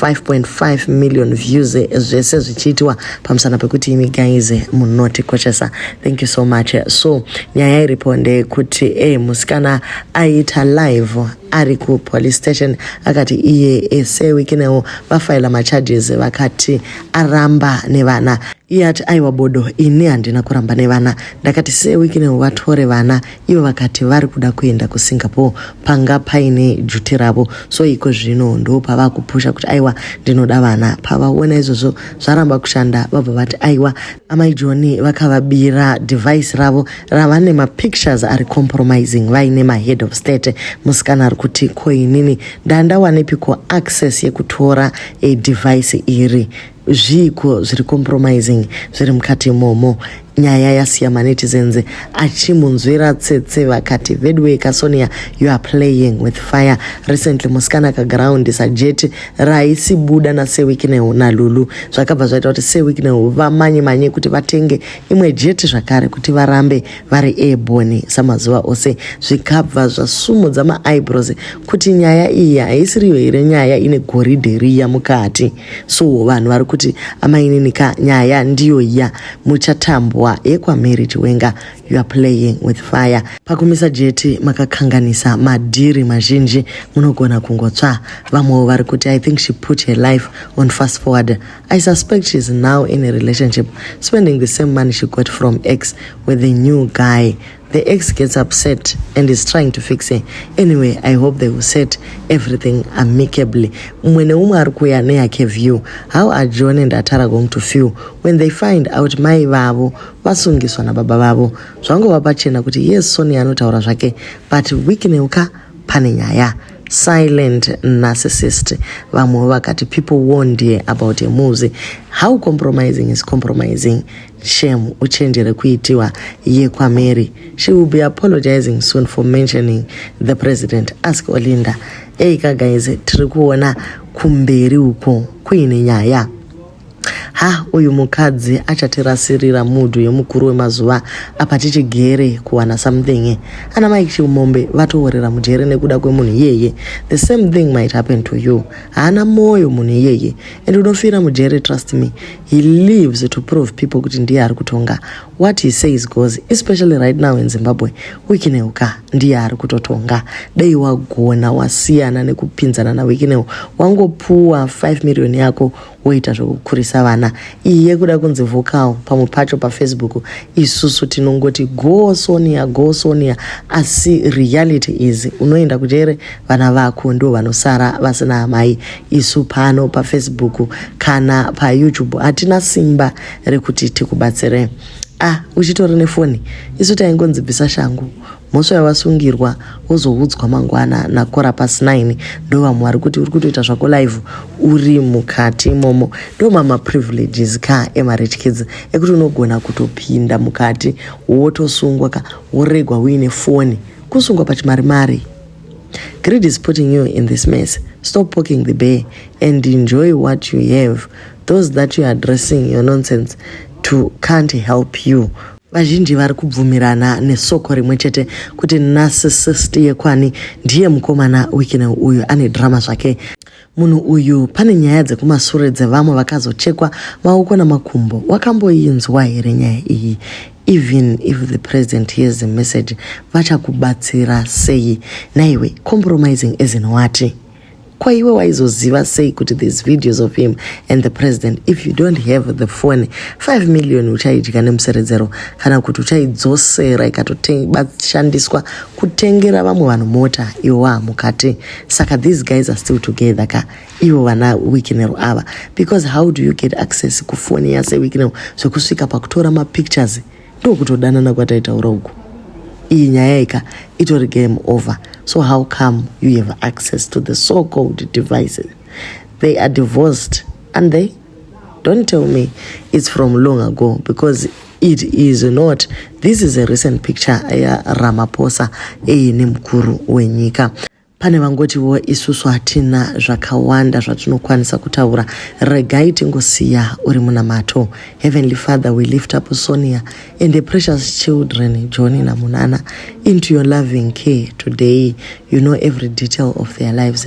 5.5 million views zvese zvichiitiwa pamusana pekuti imi guys munotikoshesa thank you so much so nyaya iripo ndeyekuti e eh, musikana aiita live ari kupolice station akati iye ese eh, wikinewo vafaila macharges vakati aramba nevana iye ati aiwa bodo ini handina kuramba nevana ndakati sewiki newo vatore vana Ivo vakati vari kuda kuenda kuSingapore panga paine juti ravo so iko zvino ndo pava kupusha kuti aiwa ndinoda vana. Pavaona izvozvo zvaramba kushanda vabva vati aiwa amai Joni vakavabira device ravo rava nemapictures ari compromising vaine mahead of state. Musikana ari kuti ko inini ndandawanepiko access yekutora device iri. zviiko zviri compromising zviri mukati imomo nyaya yasiya manetizens achimunzwira tsetse vakati veduwee kasonia you are playing with fire recently musikana akaground sajeti raisibuda nasewiknew nalulu zvakabva zvaita kuti sewiknew vamanye manye kuti vatenge imwe jeti zvakare kuti varambe vari airborne samazuva ose zvikabva zvasumudza maeyebrows kuti nyaya iyi haisiriyo here nyaya ine goridhe riya mukati so vanhu vari kuti amainini ka nyaya ndiyo ya muchatambwa yekwamary chiwenga you are playing with fire pakumisa jeti makakanganisa madhiri mazhinji munogona kungotsva vamwewo vari kuti i think she put her life on fast forward i suspect she is now in a relationship spending the same money she got from x with the new guy The ex gets upset and is trying to fix her. Anyway, I hope they will set everything amicably. Mumwe neumwe ari kuuya neyake view. How are John and Atara going to feel when they find out mai vavo vasungiswa nababa vavo? Zvangova pachena kuti yes Sonia anotaura zvake but Wicknell ka pane nyaya silent narcissist vamwewo vakati people warned ye about a muzi how compromising is compromising Shem uchenjere kuitiwa yekwaMary. She will be apologizing soon for mentioning the president. Ask Olinda. Eika guys, tiri kuona kumberi uko kuine nyaya. Ha, uyu mukadzi achatirasirira mudhu yemukuru wemazuva apa tichigere kuwana something. Ana Mike Chimombe vatoworera mujere nekuda kwemunhu iyeye. The same thing might happen to you. Haana moyo munhu iyeye and unofira mujere trust me. He lives to prove people kuti ndiye ari kutonga. What he says goes, especially right now in Zimbabwe. Wikineu ka ndiye ari kutotonga. Dei wagona wasiyana nekupinzana naWikineu. Wangopuwa 5 million yako woita zvekukurisa vana. Iyi yekuda kunzi vocal pamwe pacho paFacebook isusu tinongoti go Sonia go Sonia asi reality is unoenda kujere vana vako ndivo vanosara vasina amai. isu pano pafacebook kana payoutube hatina simba rekuti tikubatsire ah uchitori nefoni isu taingonzi bvisa shangu mhosva yawasungirwa wozoudzwa mangwana nakora pasi 9 ndovamwe vari kuti uri kutoita zvako live uri mukati imomo ndomamaprivileges ka emarich kids ekuti unogona kutopinda mukati wotosungwa ka woregwa uine foni kusungwa pachimari mari Greed is putting you in this mess. Stop poking the bear and enjoy what you have. Those that you are addressing your nonsense to can't help you. vazhinji vari kubvumirana nesoko rimwe chete kuti narcissist yekwani ndiye mukomana wikine uyu ane drama zvake Munhu uyu pane nyaya dzekumasure dzevamwe vakazochekwa maoko namakumbo wakamboinzwa here nyaya iyi even if the president hears the message vachakubatsira sei naiwe compromising as in wati ko iwe waizoziva sei kuti these videos of him and the president if you don't have the phone 5 million uchaidya nemuseredzero kana kuti uchaidzosera ikatoshandiswa kutengera vamwe vanhu mota iwo waamukati saka these guys are still together ka ivo vana wikinero ava because how do you get access kufoni yase wikinero zvekusvika pakutora mapictures ndokutodanana kwataitaura uku iyi nyaya ika itori game over so how come you have access to the so called devices they are divorced and they Don't tell me it's from long ago because it is not. This is a recent picture ya Ramaphosa eye nemukuru wenyika. Pane vangotiwo isusu hatina zvakawanda zvatinokwanisa kutaura, regai tingosiya uri munamato. Heavenly Father, we lift up Sonia and the precious children Johnny naMunana into your loving care today. You know every detail of their lives.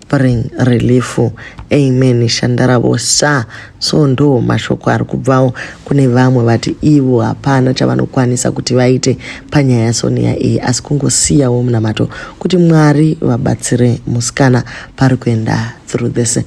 bring relief amen shandaravo sa so ndo mashoko ari kubvawo kune vamwe vati ivo hapana chavanokwanisa kuti vaite panyaya yasonia iyi asi kungosiyawo munamato kuti mwari vabatsire musikana pari kuenda through this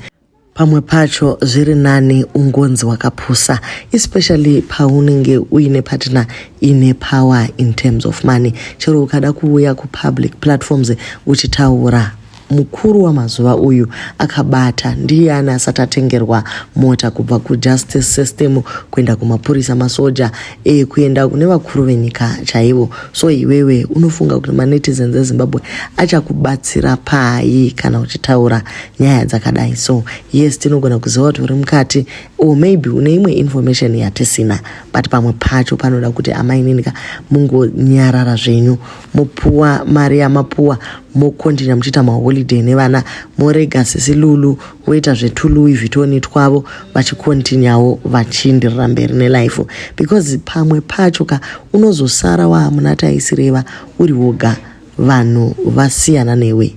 pamwe pacho zviri nani ungonzi wakapusa especially paunenge uine partner ine power in terms of money chero ukada kuuya kupublic platforms uchitaura mukuru wamazuva uyu akabata ndiyani asati atengerwa mota kubva kujustice system kuenda kumapurisa masoja e, kuenda kune vakuru venyika chaivo so iwewe unofunga kuti manetizens ezimbabwe achakubatsira pai kana uchitaura nyaya dzakadai so yes tinogona kuziva kuti uri mukati or maybe une imwe information yatisina but pamwe pacho panoda kuti amai ninika mungonyarara zvenyu mopuwa mari yamapuwa mokontinua muchiita maholiday nevana morega sisi lulu voita zvetuluwi vhitoni twavo vachikontinyawo vachindirira mberi nelife because pamwe pacho ka unozosara waamuna taisireva uri woga vanhu vasiyana newe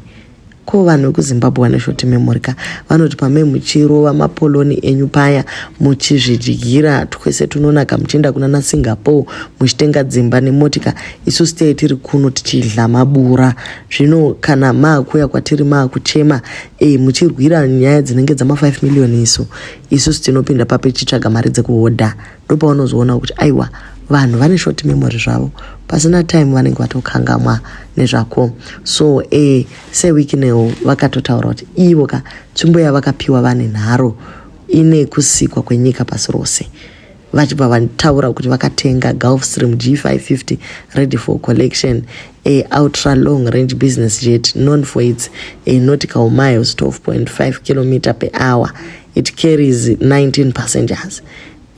Ko vanhu vekuzimbabwe vane short memory ka vanoti pamai muchirova mapoloni enyu paya muchizvidyira twese tunonaka muchienda kuna nasingapore muchitenga dzimba nemotika isu stay tiri kuno tichidla mabura zvino kana maakuya kwatiri maakuchema e, muchirwira nyaya dzinenge dzama 5 million isu isu tinopinda papi tichitsvaga mari dzekuhodha ndopaunozoona kuti aiwa vanhu vane short memory zvavo pasina time vanenge vatokangamwa nezvako so e, sewikinewo vakatotaura kuti ivo ka tsvimbo yavakapiwa vane nharo ine kusikwa kwenyika pasi rose vachibva vataura kuti vakatenga gulf stream g550 ready for collection a ultra long range business jet known for its a nautical miles 12.5 kilometer per hour it carries 19 passengers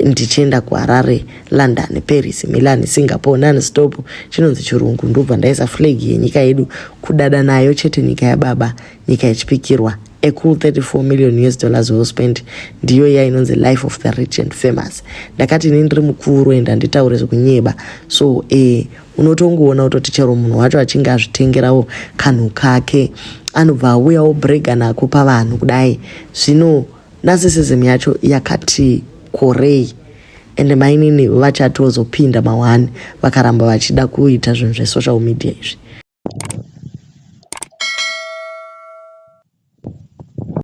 ndichienda kuharare london paris milan singapore nani stop chinonzi chirungu ndobva ndaisa flag yenyika yedu kudada nayo chete nyika yababa nyika yechipikirwa a cool 34 million us dollars well spent ndiyo iya inonzi life of the rich and famous ndakati ini ndiri mukuru and handitaure zvekunyeba so eh, unotongoona kutoti chero munhu wacho achinge azvitengerawo kanhu kake anobva auyawo brega nako pavanhu kudai zvino narcissism yacho yakati korei ende mainini vachatozopinda mawani vakaramba vachida kuita zvinhu zvesocial media izvi